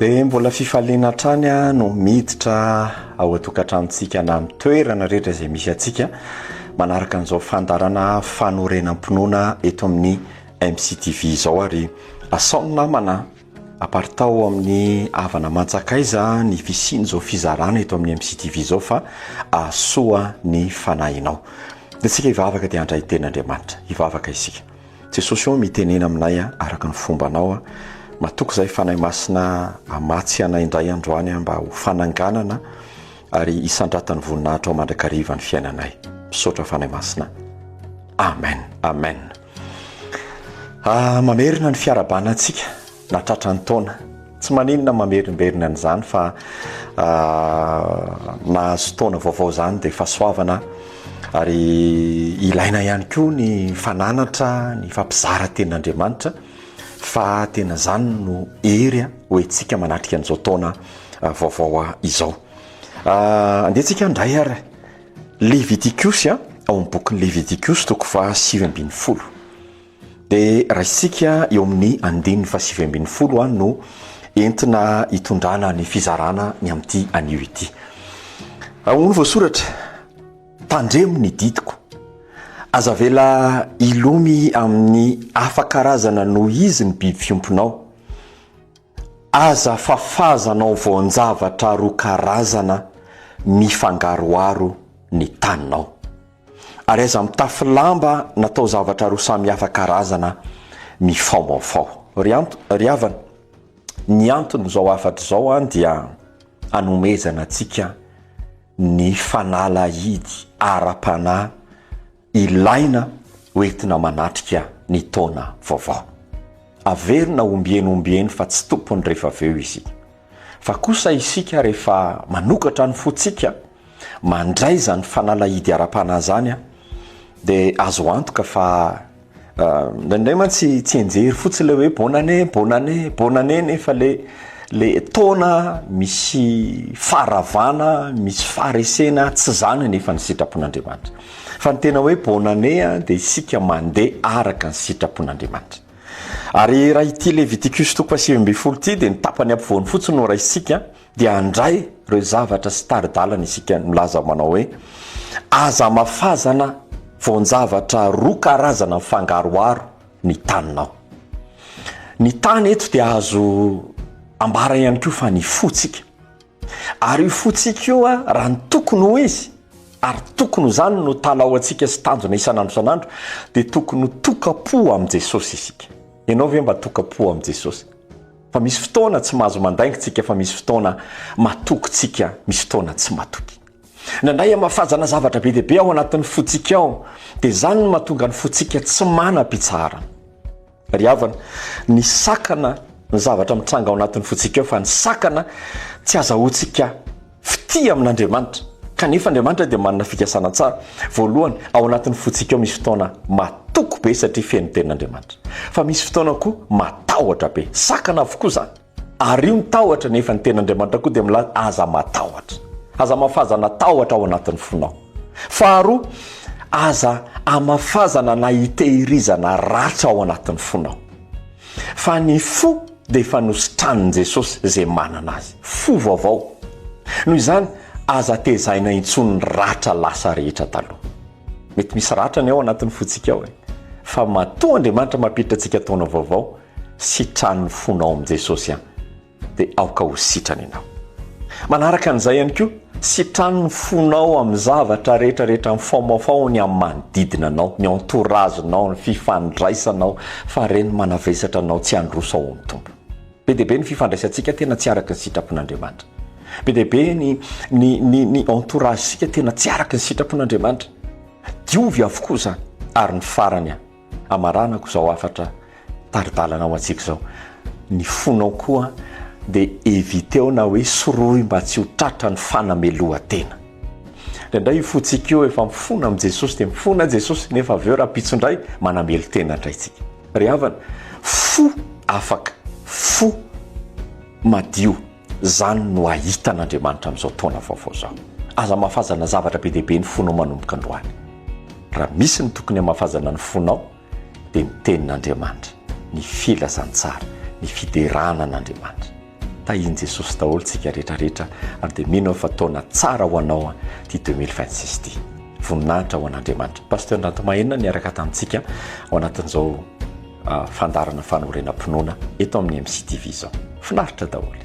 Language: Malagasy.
Dia mbola fifaliana hatrany no miditra ao an-tokantranontsika na amin'ny toerana rehetra izay misy antsika manaraka an'izao fandaharana fanorenam-pinoana eto amin'ny MCTV izao ary asao ny namana aparitao amin'ny havana mantsakaiza ny fisian'izao fizarana eto amin'ny MCTV izao fa ahasoa ny fanahinao. Dia isika hivavaka dia handray teny Andriamanitra. Hivavaka isika. Jesosy ô mitenena aminay a araka ny fombanao a matoky zay fanahy masina amatsy anay indray androany a mba ho fananganana ary isandratan'ny voninahitrao mandrakariva ny fiainanay misaotra fanahy masina amen amen ah, mamerina ny fiarahabana antsika Na tratran'ny taona. Tsy maninona mamerimberina an'izany fa mahazo taona vaovao izany dia fahasoavana ary ilaina ihany koa ny fananatra ny fampizara tenin'Andriamanitra fa tena izany no hery ho entsika manatrika an'izao taona vaovao izao. Andehantsika handray ary Levitikosy ao amin'ny bokin'ny Levitikosy toko faha sivy ambin'ny folo. Dia raisintsika eo amin'ny andininy fahasivy ambin'ny folo no entina hitondrana ny fizarana ny amin'ity anio ity. Ahoana no voasoratra? Tandremo ny didiko. Aza avela hilomy amin'ny hafa karazana noho izy ny biby fiompinao. Aza fafazanao voan-javatra roa karazana mifangaroharo ny taninao. Ary aza mitafy lamba natao zavatra roa samy hafa karazana mifaomaofao. Ry anto, ry havana, ny anton'izao hafatra izao dia hanomezana antsika ny fanalahidy ara-panahy, ilaina hoentina manatrika ny taona vaovao. Averina ombieny ombieny fa tsy tompony rehefa avy eo isika. Fa kosa isika rehefa manokatra ny fontsika, mandray izany fanalahidy ara-panahy izany dia azo antoka fa Indraindray mantsy tsianjery fotsiny ilay hoe bonne année, bonne année, bonne année nefa ilay le taona misy faharavana, misy faharesena tsy izany anefa ny sitrapon'Andriamanitra. Fa ny tena hoe bonne année a dia isika mandeha araka ny sitrapon'Andriamanitra. Ary raha ity Leviticus toko fahasivy ambin'ny folo ity dia ny tapany ampovoany fotsiny no raisintsika dia handray ireo zavatra sy tari-dalana isika milaza manao hoe, Aza amafazana voan-javatra roa karazana mifangaroharo ny taninao. Ny tany eto dia azo ambara ihany koa fa ny fotsika. Ary io fotsika io, raha ny tokony ho izy, ary tokony ho izany no talaoantsika sy tanjona isan'andro isan'andro, dia tokony ho toka-po amin'i Jesosy isika. Ianao ve mba toka-po amin'i Jesosy? Fa misy fotoana tsy mahazo mandainga tsika fa misy fotoana matoky tsika misy fotoana tsy matoky. Nandray hamafazana zavatra be dia be ao anatin'ny fotsika ao dia zany no mahatonga ny fotsika tsy mana pitsaharana. Ry havana, ny sakana ny zavatra mitranga ao anatin'ny fotsika ao fa ny sakana tsy azahoantsika Fitia amin'Andriamanitra. Kanefa Andriamanitra dia manana fikasana tsara. Voalohany, ao anatin'ny fontsika ao misy fotoana matoky be satria feno tenin'Andriamanitra. Fa misy fotoana koa matahotra be. Sakana avokoa izany. Ario ny tahotra nefa ny tenin'Andriamanitra koa dia milaza aza matahotra. Aza amafazana tahotra ao anatin'ny fonao. Faharoa, aza amafazana na itehirizana ratra ao anatin'ny fonao. Fa ny fo. dia efa nositranin'i Jesosy izay manana azy. Fo vaovao. Noho izany, aza tezaina intsony ny ratra lasa rehetra taloha. Mety misy ratra ny ao anatin'ny fontsika ao e! Fa matoa Andriamanitra mampiditra antsika taona vaovao, sitraho ny fonao amin'i Jesosy an! Dia aoka ho sitrany ianao. Manaraka an'izay ihany koa, Sitrano ny fonao amin'ny zavatra rehetra rehetra mifaomafao ny amin'ny manodidina anao, ny entourage nao, ny fifandraisanao fa reny manavesatra anao tsy handroso ao amin'ny Tompo. Be dia be ny fifandraisantsika tena tsy araka ny sitrapon'Andriamanitra. Be dia be ny ny ny ny entourage-sika tena tsy araka ny sitrapon'Andriamanitra. Diovy avokoa izany ary ny farany an. Hamaranako izao hafatra tari-dalana ho antsika izao. Ny fonao koa dia eviteo na hoe sorohy mba tsy ho tratra ny fanamelohan-tena. Indraindray io fontsika io efa mifona amin'i Jesosy dia mifona i Jesosy nefa avy eo rahampitso indray manamelo tena indray isika. Ry havana, fo afaka, fo madio. Izany no hahita an'Andriamanitra amin'izao taona vaovao izao. Aza hamafazana zavatra be dia be ny fonao manomboka androany. Raha misy ny tokony hamafazana ny fonao dia ny Tenin'Andriamanitra, ny filazantsara, ny fiderana an'Andriamanitra. Tahian'i Jesosy daholo tsika rehetra rehetra ary dia mino aho fa taona tsara ho anao an ity 2026 ity. Voninahitra ho an'Andriamanitra. Pasteur Ndratomahenina niaraka tamintsika ao anatin'izao. fandaharana fanorenam-pinoana eto amin'ny MCTV izao. Finaritra daholo.